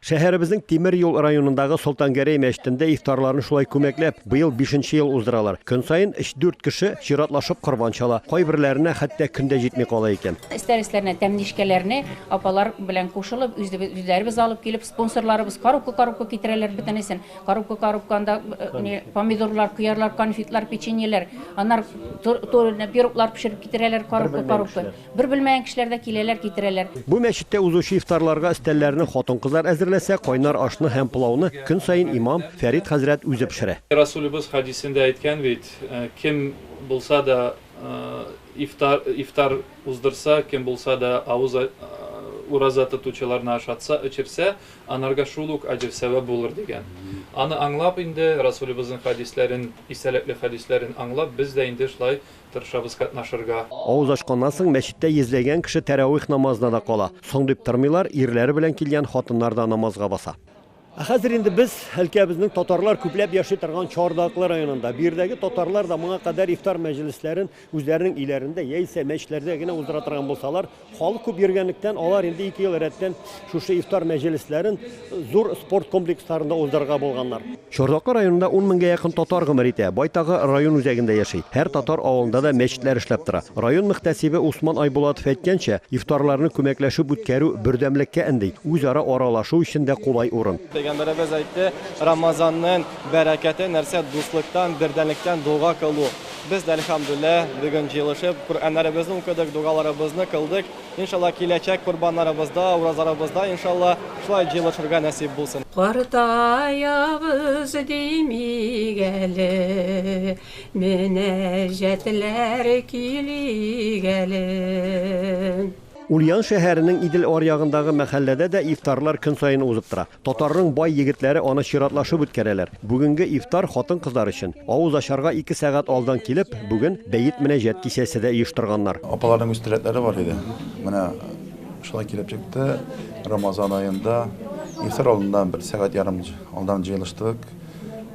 Шәһәребезнең Тимер юл районындагы Солтангәрәй мәчетендә ифтарларны шулай күмәкләп, быел бишенче ел уздыралар. Көн саен өч-дүрт кеше чиратлашып корбан чала. Кайберләренә хәтта көн дә җитми кала икән. Өстәл-өсләренә тәмлечкәләрне апалар белән кушылып, үзләребез алып килеп, спонсорларыбыз коробка-коробка китерәләр бөтенесен. Коробка-коробка анда помидорлар, кыярлар, конфетлар, печеньеләр, аннары турыдан пироглар пешереп китерәләр коробка-коробка. Бер белмәгән кешеләр дә киләләр, китерәләр. Бу мәчеттә узучы ифтарларга өстәлләрне хатын-кызлар әзерләсә, кайнар ашны һәм пылауны көн саен имам Фәрит хәзрәт үзе пешерә. Расулебез хәдисендә әйткән бит, Кем булса да ифтар ифтар уздырса, кем булса да авыз ураза тотучыларны ашатса, эчерсә, анарга шул ук аҗр-сәвап булыр, дигән. Аны аңлап инде, Расулебезнең хәдисләрен, истәлекле хәдисләрен аңлап, без дә инде шулай Тырышабыз катнашырга. Авыз ачканнан соң мәчеттә йөзләгән кеше тәравих намазына да кала. Соң дип тормыйлар, ирләре белән килгән хатыннар да намазга баса. Ә хәзер инде без өлкәбезнең татарлар күпләп яши торган Чардаклы районында. Бу йирдәге татарлар да моңа кадәр ифтар мәҗлесләрен үзләренең өйләрендә яисә мәчетләрдә генә уздыра торган булсалар, Халык күп йөргәнлектән, алар инде ике ел рәттән шушы ифтар мәҗлесләрен зур спорт комплексларында уздырырга булганнар. Чордаклы районында ун меңгә якын татар гомер итә. Байтагы район үзәгендә яши. Һәр татар авылында да мәчетләр эшләп тора. Район мөхтәсибе Усман Айбулатов әйткәнчә, ифтарларны күмәкләшеп үткәрү бердәмлеккә өнди, үзара аралашу өчен дә кулай урын. Пәйгамбәребез әйтте, Рамазанның бәрәкәте нәрсә, дуслыктан, бердәмлектән дога кылу. Без дә, әлхәмдүлилләһ, бүген җыелышып, Коръәннәребезне укыдык, дугаларыбызны кылдык. Иншаллаһ, киләчәк Корбаннарыбызда, уразаларыбызда, иншаллаһ, шулай җыелышырга нәсыйп булсын. Картаябыз димик әле, мөнәҗәтләр килик әле. Ульян шәһәренең Идел аръягындагы мәхәлләдә дә ифтарлар көн саен узып тора. Татарның бай егетләре аны чиратлашып үткәрәләр. Бүгенге ифтар хатын-кызлар өчен. Авыз ачарга ике сәгать алдан килеп, бүген бәет-мөнәҗәт кичәсе дә оештырганнар. Апаларның үз теләкләре бар иде. Менә шулай килеп чыкты. Рамазан аенда ифтар алдыннан бер сәгать-ярым алдан җыелыштык.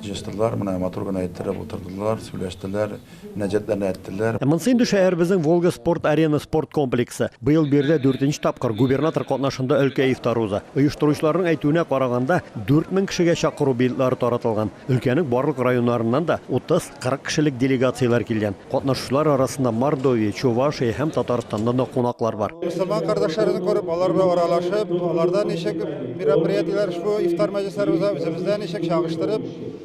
Җыештылар, менә матур гына иттереп утырдылар, сөйләштеләр. мөнәҗәтләрне әйттеләр. Ә монсы инде шәһәребезнең Волга спорт-арена спорт комплексы. Быел биредә дүртенче тапкыр губернатор катнашында өлкә ифтары уза. Оештыручыларның әйтүенә караганда, 4000 кешегә чакыру билетлары таратылган. Өлкәнең барлык районнарыннан да 30-40 кешелек делегацияләр килгән. Катнашучылар арасында Мордовия, Чувашия һәм Татарстаннан да кунаклар бар. Мөселман кардәшләребезне күреп, алар белән аралашып, аларда ничек мероприятиеләр, шул ифтар мәҗлесләре уза, үзебездә ничек, чагыштырып,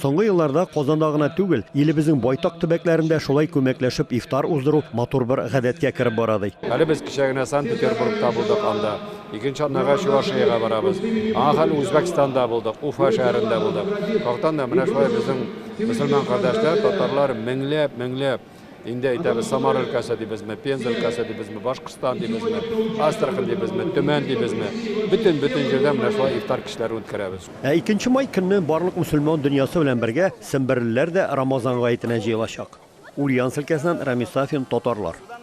Соңгы елларда Казанда гына түгел, илебезнең байтак төбәкләрендә шулай күмәкләшеп ифтар уздыру матур бер гадәткә кереп бара, ди. Әле без кичә генә Санкт-Петербургта булдык, анда. Икенче атнага Чувашиягә барабыз. Аңа хәл Үзбәкстанда булдык, Уфа шәһәрендә булдык. Яктан да менә шулай безнең мөселман кардәшләр, татарлар меңләп, меңләп. Инде әйтәбез, Самар өлкәсе дибезме, Пенза өлкәсе дибезме, Башкортстан дибезме, Астрахань дибезме, Төмән дибезме, бөтен бөтен җирдә менә шулай ифтар кичләрен үткәрәбез. Ә икенче май көнне барлык мөселман дөньясы белән бергә семберлеләр дә Рамазан гаетенә җыелачак. Ульяновск өлкәсеннән Рамис Сафин, татарлар.